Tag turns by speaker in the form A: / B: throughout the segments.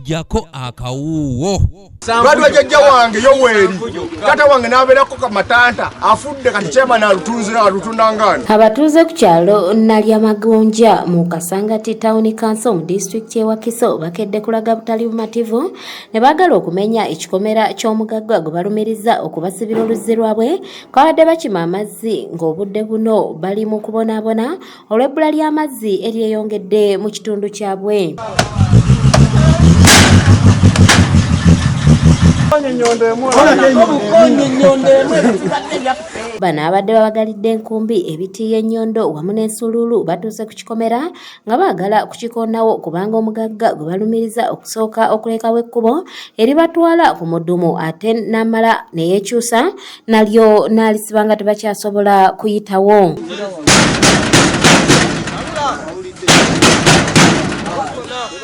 A: jako akawuuwo lwaliwa
B: jajja wange yoweeri tata wange nabeerako kamatanta afudde kati kyemana alutunzira alutundangaani abatuuze ku kyalo
C: nalya magonja mu kasangati tawuni kanso mu disitulikiti ewakiso bakedde kulaga butali bumativu ne baagala okumenya ekikomera ky'omugagga gwe balumiriza okubasibira oluzzi lwabwe kwabadde bakima amazzi ng'obudde buno bali mu kubonaabona olw'ebbula ly'amazzi eryeyongedde mu kitundu kyabwe bano abadde babagalidde enkumbi ebitiiyo ennyondo wamu n'ensuluulu batuuse ku kikomera nga baagala kukikonawo kubanga omugagga gwe balumiriza okusooka okulekawo ekkubo eribatwala ku mudumu ate n'amala neyekyusa nalyo n'alisiba nga tebakyasobola kuyitawo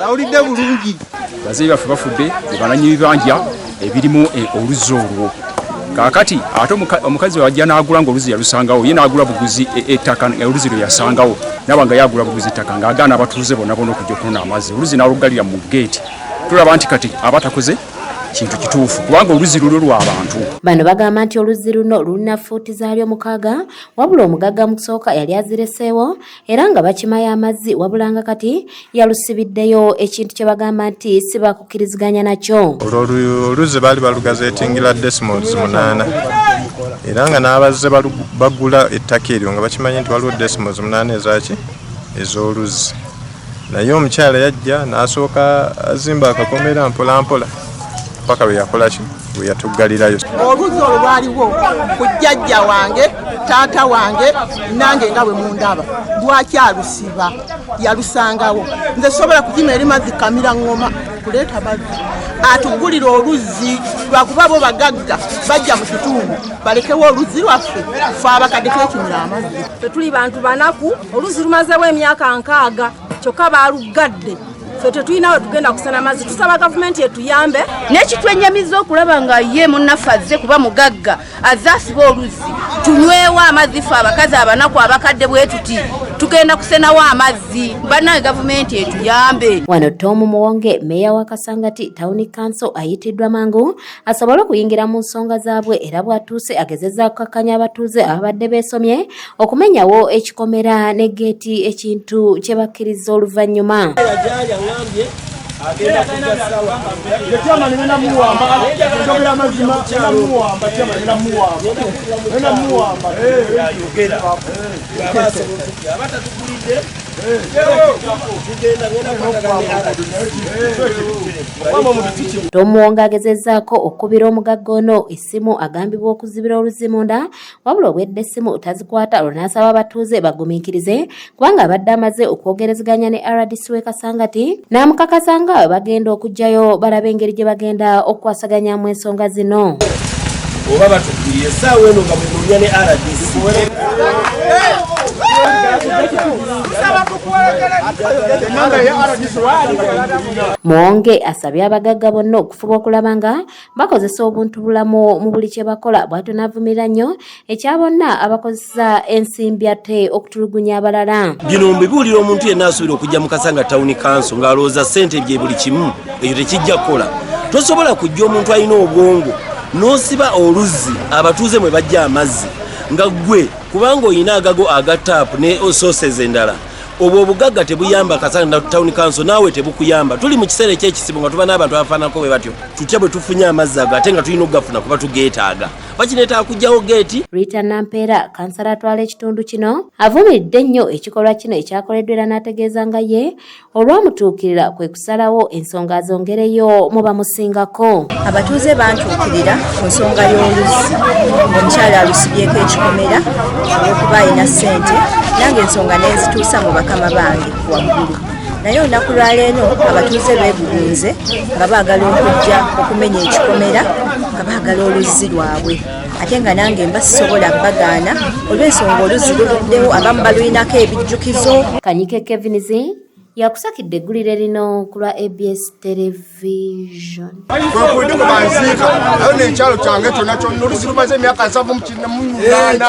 B: awulidde bulungi bazeeyi baffe bafudde
D: ebananyi bibanja ebirimu e, oluzzi olwo kakati ate omukazi wajja nagula nga oluzi yalusangawo ye nagula buguzi e, ettaka e, oluzi lwe yasangawo naba nga yagula buguzi ettaka ngaagaana abatuuze bonna bona okujja okunona amazzi oluzi naluggalira mu geeti tulaba nti kati abatakoze kintu kituufu kubanga oluzzi lulwo lwabantu bano bagamba nti
C: oluzzi luno lulina fuuti zaalyo mukaaga wabula omugagga mu kusooka yali azireseewo era nga bakimayo amazzi wabulanga kati yalusibiddeyo ekintu kye bagamba nti si bakukkiriziganya nakyo oluzzi baali
E: balugaza etingila desmols munaana era nga n'abazze bagula ettaka eryo nga bakimanyi nti waliwo desmols munaana ezaki ez'oluzzi naye omukyala yajja n'asooka azimba akakomera mpolampola paka lwe yakolaki lwe yatuggalirayo oluzzi olwo
F: lwaliwo ku jjajja wange taata wange nange nga bwe mundaba lwaki alusiba yalusangawo nze sobola kukima eri mazzi kamira ngoma kuleeta mazzi atugulira oluzzi lwakuba bo bagagga bajja mu kitundu balekewo oluzzi lwaffe fe abakadde kekimira amazzi ffe tuli bantu banaku
G: oluzi lumazewo emyaka nkaaga kyokka baaluggadde fe tetulina we tugenda kusana mazzi tusaba gavumenti etuyambe nekitwenyamiza
H: okulaba nga ye munaffe azze kuba mugagga azze asiba oluzzi tunywewo amazzi fe abakazi abanaku abakadde bwe tuti tugenda kusenawo amazzi banaye gavumenti etuyambe wano tomu muwonge
C: meeya wa kasangati tawuni kanso ayitiddwa mangu asobole okuyingira mu nsonga zaabwe era bw'atuuse agezezza kukakkanya abatuuze ababadde beesomye okumenyawo ekikomera ne geeti ekintu kye bakkirizza oluvannyuma Tomuwonga agezezaako okukubira omugagga ono essimu agambibwa okuzibira oluzi munda wabula obwedde essimu tazikwata olwo n'asaba abatuuze bagumiikirize kubanga abadde amaze okwogerezeganya ne rdc w'e Kasangati n'amukakasa nga bagenda okuggyayo balabe engeri gye bagenda okukwasaganyamu ensonga zino.
I: oba batukiriye
C: esaawa eno nga mwenoonya ne rdc Muwonge asabye abagagga bonna okufuba okulaba nga bakozesa obuntu bulamu mu buli kye bakola bw'ato n'avumirira nnyo ekya bonna abakozesa okukozesa ensimbi ate okutulugunya abalala bino mbibuulira omuntu
I: yenna asuubira okujja mu kasanga tawuni kanso ng'alowooza ssente bye buli kimu ekyo tekijja kukola tosobola kujja omuntu alina obwongo n'osiba oluzzi abatuuze mwe bajja amazzi nga ggwe kubanga olina agago aga taapu ne sooses endala obwo obugagga tebuyamba kasana town council naawe tebukuyamba tuli mu kiseera ekyekisibu nga tuba n'abantu abafaanako bwe batyo tutya bwe tufunye amazzi ago ate nga tulina okugafuna kuba tugeetaaga bakineetaaga kugyawo geeti rita nampeera
C: kansala atwala ekitundu kino avumiridde ennyo ekikolwa kino ekyakoleddwa era n'ategeeza nga ye olwamutuukirira kwe kusalawo ensonga azongereyo mu bamusingako abatuuze
J: bantuukirira ku nsonga y'oluzzi omukyala alusibyeko ekikomera olwokuba alina ssente nange ensonga nenzituusa mu bakama bange waggulu naye olunaku lwaleero abatuuze beegugunze nga baagala okujja okumenya ekikomera nga baagala oluzzi lwabwe ate nga nange mba sisobola bagaana olw'ensonga oluzzi luluddewo abamu balulinako ebijjukizo kanyike kevins
C: yakusakidde eggulire lino ku lwa abs television kwekulidde
B: kwe banziika ayo nekyalo kyange kyona kyonna oluzi lumaze emyaka nsavu mukinnamunyunaana